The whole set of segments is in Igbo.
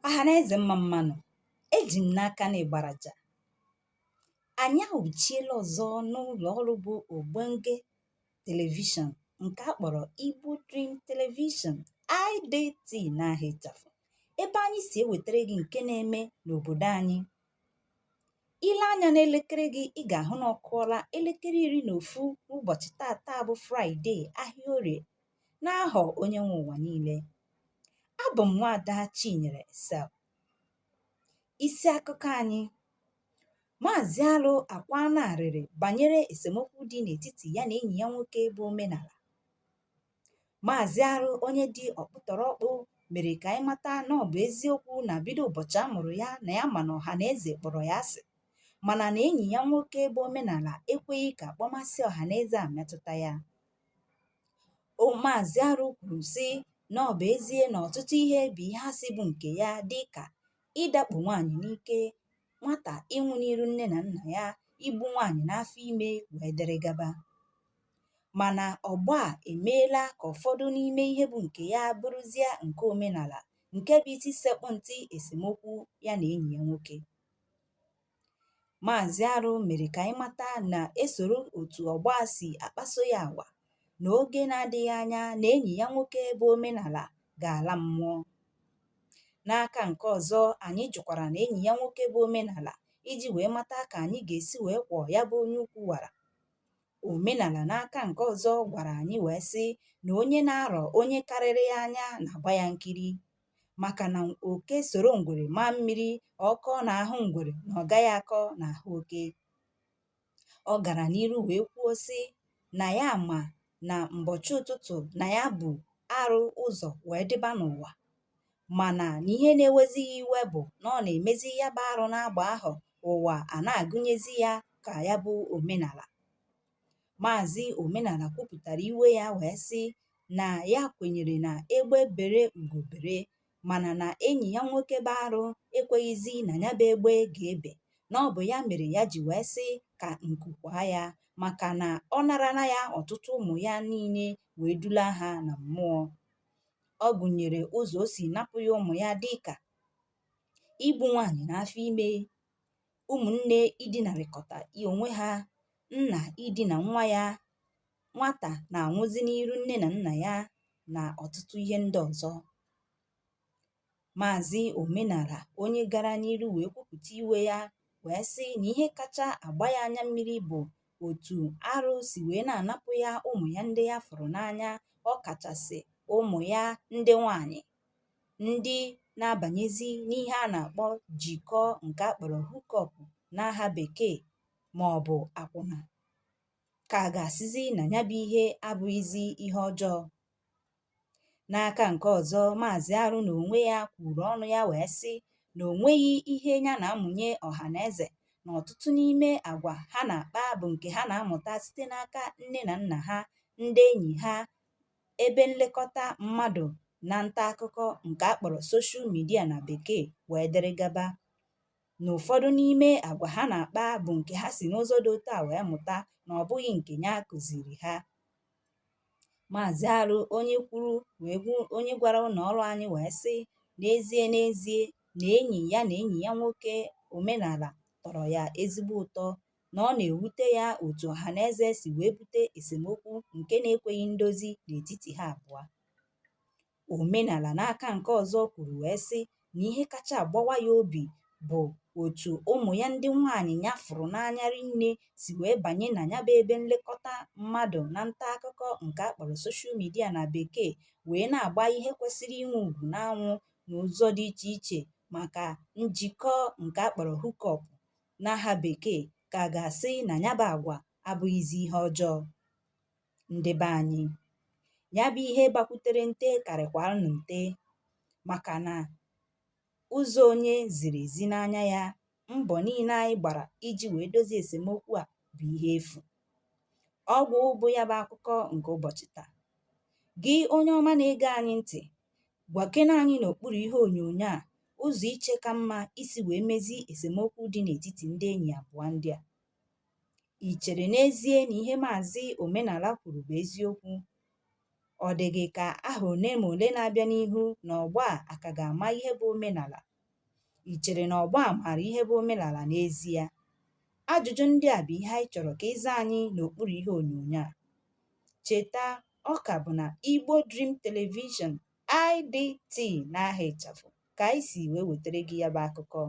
ọha na eze mma mmanụ eji m n'aka na ịgbaraja anyị awụchiela ọzọ n'ụlọ ọrụ bụ ogbonge telivishọn nke a kpọrọ igbo dream television idt n'aha ịchafụ ebe anyị si ewetara gị nke na-eme n'obodo anyị i lee anya n'elekere gị ị ga-ahụ na ọ kụọla elekere iri na ofu n'ụbọchị tata bụ fraịde ahịa orie n'ahọ onye nwe ụwa niile abụ m nwaada chinyere sel isi akụkọ anyị maazị arụ akwaana arịrị banyere esemokwu dị n'etiti ya na enyi ya nwoke bụ omenala maazị arụ onye dị ọkpụtọrọkpụ mere ka anyị mata na ọ bụ eziokwu na bido ụbọchị a mụrụ ya na ya ma na ọha na eze kpọrọ ya asị mana na enyi ya nwoke bụ omenala ekweghị ka akpọmasị ọha na eze a metụta ya Maazị Arụ kwuru sị na ọ bụ ezie na ọtụtụ ihe bụ ihe a sị bụ nke ya dị ka ịdakpo nwaanyị n'ike, nwata ịnwụ n'iru nne na nna ya, igbu nwaanyị n'afọ ime wee dere gaba. Mana ọgbọ a emeela ka ụfọdụ n'ime ihe bụ nke ya bụrụzie nke omenala nke bụ isi sekpụ ntị esemokwu ya na enyi ya nwoke. Maazị Arụ mere ka anyị mata na e soro otu ọgbọ a si akpaso ya agwa na oge na-adịghị anya na enyi ya nwoke bụ omenala ga-ala mmụọ. N'aka nke ọzọ, anyị jụkwara na enyi ya nwoke bụ omenala iji wee mata ka anyị ga-esi wee kwọọ ya bụ onye ukwu wara. Omenala n'aka nke ọzọ gwara anyị wee sị na onye na-arọ onye karịrị ya anya na-agba ya nkiri. maka na oke soro ngwere maa mmiri ọ kọọ n'ahụ ngwere na ọ gaghị akọ n'ahụ oke ọ gara n'iru wee kwuo sị na ya ma na mbọchị ụtụtụ na ya bu arụ ụzọ wee dịba n'ụwa mana na ihe na-ewezi ya iwe bụ na ọ na-emezi ya bụ arụ n'agba ọhụụ a a na-agụnyezi ya ka ya bụ omenala Maazị Omenala kwupụtara iwe ya wee sị na ya kwenyere na egbe bere ugo bere mana na enyi ya nwoke bụ arụ ekweghịzi na ya bụ egbe ga-ebe na ọ bụ ya mere ya ji wee sị ka nku kwaa ya maka na ọ narala ya ọtụtụ ụmụ ya niile wee dula ha na mmụọ ọ gụnyere ụzọ o si napụ ya ụmụ ya dịka igbu nwaanyị n'afọ ime ụmụnne idinarịkọta onwe ha nna idina nwa ya nwata na-anwụzi n'iru nne na nna ya na ọtụtụ ihe ndị ọzọ maazị omenala onye gara n'iru wee kwupụta iwe ya wee sị na ihe kacha agba ya anya mmiri bụ otu arụ si wee na-anapụ ya ụmụ ya ndị ya fụrụ n'anya ọ kachasị ụmụ ya ndị nwanyị ndị na-abànyezi n'ihe a nà-àkpọ jìkọ ǹkè a kpọ̀rọ̀ hook-up n'ahà bèkeè màọ̀bụ̀ àkwụnà kà a gà-àsịzi nà ya bụ ihe abụghịzi ihe ọjọọ n'aka ǹke ọ̀zọ maàzị arụ nà ònwe ya kwùrù ọnụ ya wèe sị nà ò nweghị ihe ya nà-amụ̀nye ọ̀hà nà ezè nà ọ̀tụtụ n'ime àgwà ha nà-àkpa bụ̀ ǹkè ha nà-amụ̀ta site n'aka nne nà nnà ha ndị enyì ha ebe nlekọta mmadụ na nta akụkọ nke a kpọrọ soshal midia na bekee wee dịrị gaba na ụfọdụ n'ime agwa ha na-akpa bụ nke ha si n'ụzọ dị otu a wee mụta na ọ bụghị nke ya kụziri ha maazị arụ onye kwuru wee gwu onye gwara ụlọ ọrụ anyị wee sị n'ezie n'ezie na enyi ya na enyi ya nwoke omenala tọrọ ya ezigbo ụtọ na ọ na-ewute ya otu ọhaneze si wee bute esemokwu nke na-ekweghị ndozi n'etiti ha abụọ. Omenala n'aka nke ọzọ kwuru wee sị na ihe kacha agbawa ya obi bụ otu ụmụ ya ndị nwaanyị ya fụrụ n'anya rinne si wee banye na ya bụ ebe nlekọta mmadụ na nta akụkọ nke a kpọrọ soshal midia na bekee wee na-agba ihe kwesịrị inwe ugwu n'anwụ n'ụzọ dị iche iche maka njikọ nke a kpọrọ hookup n'aha bekee ka a ga-asị na ya bụ agwa abụghịzi ihe ọjọọ ndị be anyị ya bụ ihe gbakwutere nte karịkwara nụ nte maka na ụzọ onye ziri ezi n'anya ya mbọ niile anyị gbara iji wee dozie esemokwu a bụ ihe efu ọgwụ bụ ya bụ akụkọ nke ụbọchị taa gị onye ọma na-ege anyị ntị Gwakena anyị n'okpuru ihe onyonyo a ụzọ i che ka mma isi wee mezie esemokwu dị n'etiti ndị enyi abụọ ndị a. I chere n'ezie na ihe Maazị Omenala kwuru bụ eziokwu? Ọ dị gị ka ahọ ole ma ole na-abịa n'ihu na ọgbọ a ka ga-ama ihe bụ omenala? I chere na ọgbọ a maara ihe bụ omenala n'ezie? Ajụjụ ndị a bụ ihe anyị chọrọ ka ị zaa anyị n'okpuru ihe onyonyo a. Cheta ọ ka bụ na Igbo Dream Television IDT n'aha ịchafụ ka anyị si wee wetara gị ya bụ akụkọ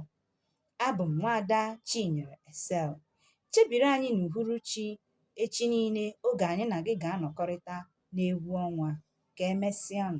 abụ m nwaada Chinyere Excel chebiri anyị n'uhuruchi echi niile oge anyị na gị ga-anọkọrịta n'egwu ọnwa ka emesịanụ